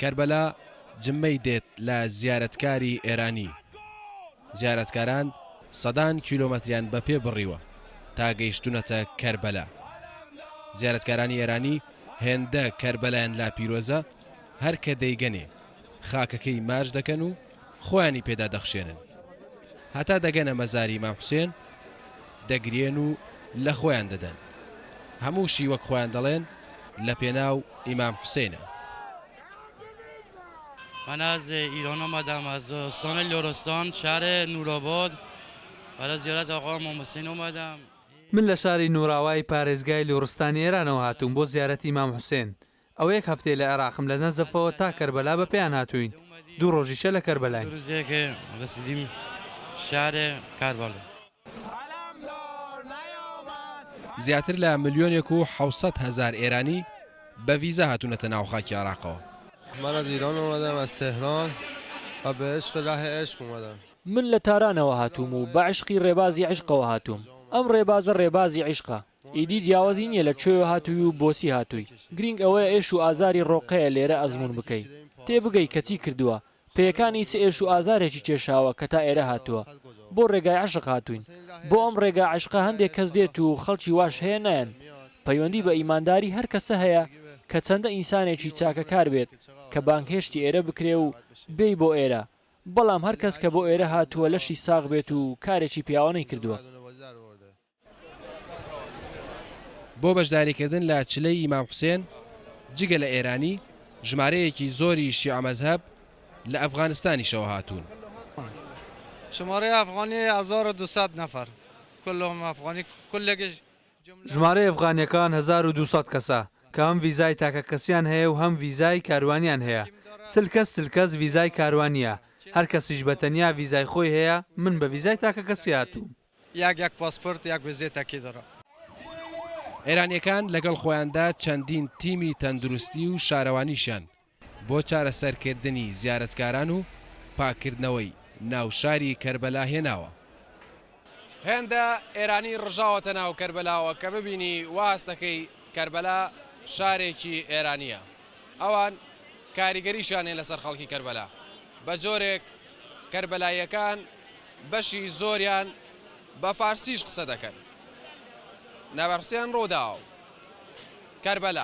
کەربەلا جمەی دێت لە زیارەتکاری ئێرانی، زیارەتکاران سەدان کیلۆمەتریان بە پێ بڕیوە تا گەیشتونەتە کەربەلا. زیارەتکارانی ئێرانی هێندە کەربەلایان لا پیرۆزە هەر کە دەیگەنێ خاکەکەی ماچ دەکەن و، خۆیانی پێدا دەخشێنن هەتا دەگەنە مەزاری مام حوسێن دەگریێن و لە خۆیان دەدەن هەمووشی وەک خۆیان دەڵێن لە پێناو ئیمام حوسێنە. من از ایران آمدم از استان لرستان شهر نورآباد برای زیارت آقا امام حسین آمدم. من لە شاری نوراوای پارێزگای لوڕستانی ئێرانەوە هاتووم بۆ زیارەتی مام حوسێن ئەوە یەک هەفتەیە لە عێراقم، لە نەجەفەوە تا کەربەلا بە پێیان هاتووین، دوو ڕۆژیشە لە کەربەلاین. زیاتر لە ملیۆنێک و حەوت سەد هەزار ئێرانی بە ڤیزا هاتوونەتە ناو خاکی عێراقەوە. من لە تارانەوە هاتووم و بە عیشقی ڕێبازی عیشقەوە هاتووم. ئەم ڕێبازە ڕێبازی عیشقە. ئیدی جیاوازی نیە لە کوێوە هاتووی و بۆچی هاتووی، گرینگ ئەوەیە ئێش و ئازاری ڕۆقەیە لێرە ئەزموون بکەی، تێبگەی کە چی کردووە، پێیەکانی چ ئێش و ئازارێکی کێشاوە کە تا ئێرە هاتووە. بۆ ڕێگای عەشق هاتووین. بۆ ئەم ڕێگا عەشقە هەندێک کەس دێت و خەڵکی واش هەیە نایەن. پەیوەندی بە ئیمانداری هەر کەسە هەیە کە چەندە ئینسانێکی چاکەکار بێت کە بانگهێشتی ئێرە بکرێ و بێی بۆ ئێرە، بەڵام هەر کەس کە بۆ ئێرە هاتووە لەشی ساغ بێت و کارێکی پیاوانەی کردووە. بۆ بەشداریکردن لە چلەی ئیمام حوسێن، جگە لە ئێرانی، ژمارەیەکی زۆری شیعە مەزهەب لە ئەفغانستانیشەوە هاتوون. ژمارەی ئەفغانییەکان هەزار و دوو سەد کەسە، کە هەم ڤیزای تاکەکەسییان هەیە و هەم ڤیزای کاروانییان هەیە. چل کەس چل کەس ڤیزای کاروانییە، هەر کەسیش بە تەنیا ڤیزای خۆی هەیە، من بە ڤیزای تاکەکەسی هاتووم. یاک یاک پاسپورت یاک وزێ تەکی دەڕە. ئێرانییەکان لەگەڵ خۆیاندا چەندین تیمی تەندروستی و شارەوانیشیان بۆ چارەسەرکردنی زیارەتکاران و پاککردنەوەی ناو شاری کەربەلا هێناوە. هێندە ئێرانی ڕژاوەتە ناو کەربەلاوە کە ببینی وا هەست دەکەی کەربەلا شارێکی ئێرانییە. ئەوان کاریگەریشیان هەیە لەسەر خەڵکی کەربەلا. بە جۆرێک کەربەلاییەکان. بەشی زۆریان بە فارسیش قسە دەکەن. نەبەرسیان ڕووداو. کەربەلا.